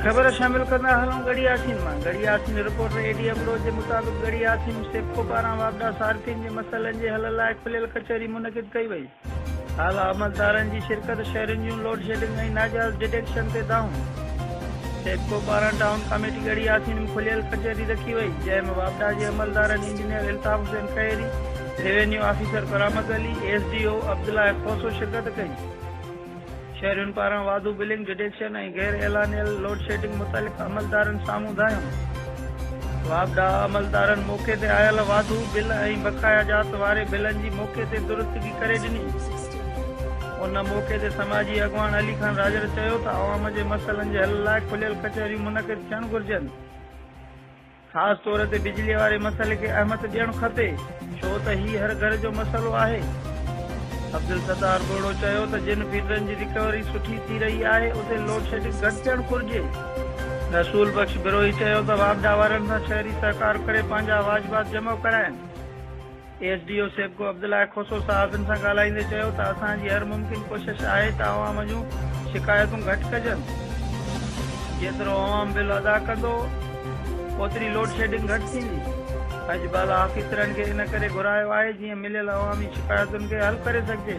خبر شامل ڪندا هلون ڳڙهي آسين مان Garhi Yasin reporter A D Abro جي مطابق ڳڙهي آسين سيپڪو پاران واپڊا صارفين جي مسئلن جي حل لاء کليل ڪچهري منعقد ڪئي وئي اعليٰ عملدارن جي شرڪت، شهرين جون لوڊشيڊنگ ۽ ناجائز ڊٽيڪشن تي دانهون، سيپڪو پاران ٽائون ڪاميٽي ڳڙهي ياسين ۾ کليل ڪچهري رکي وئي، جنهن ۾ واپڊا جي عملدارن engineer Altaf Hussain Khehro, revenue officer Karamat Ali, S D O Abdullah Khoso شرڪت ڪئي. شهرين پاران واڌو بلنگ ڊڊيڪشن ۽ غير اعلانيل لوڊشيڊنگ متعلق عملدارن سامهون ڌايون. واپڊا عملدارن موقعي تي آيل واڌو بل ۽ بقايا جات واري بلن جي موقعي تي درستگي ڪري ڏني. ان موقعي تي سماجي اڳواڻ علي خان راڄڙ چيو ته عوام جي مسئلن جي حل لاء کليل ڪچهريون منعقد ٿيڻ گهرجن. خاص طور تي بجلي واري مسئلي کي اهمت ڏيڻ کپي ڇو ته هي هر گهر جو مسئلو آهي. عبدالستار ٻوڙو چيو ته جن فيڊرن جي رڪوري سٺي ٿي رهي آهي اتي لوڊشيڊنگ گهٽ ٿيڻ گهرجي. رسول بخش بروهي چيو ته واپڊا وارن سان شهري سهڪار ڪري پنهنجا واجبات جمع ڪرائين. S D O SEPCO Abdullah Khoso صحافين سان ڳالهائيندي چيو ته اسان جي هر ممڪن ڪوشش آهي ته عوام جون شڪايتون گهٽ ڪجن، جيترو عوام بل ادا ڪندو اوتري لوڊشيڊنگ گهٽ ٿيندي، اڄ بالا آفيسرن کي ان ڪري گهرايو آهي جيئن مليل عوامي شڪايتن کي حل ڪري سگهجي.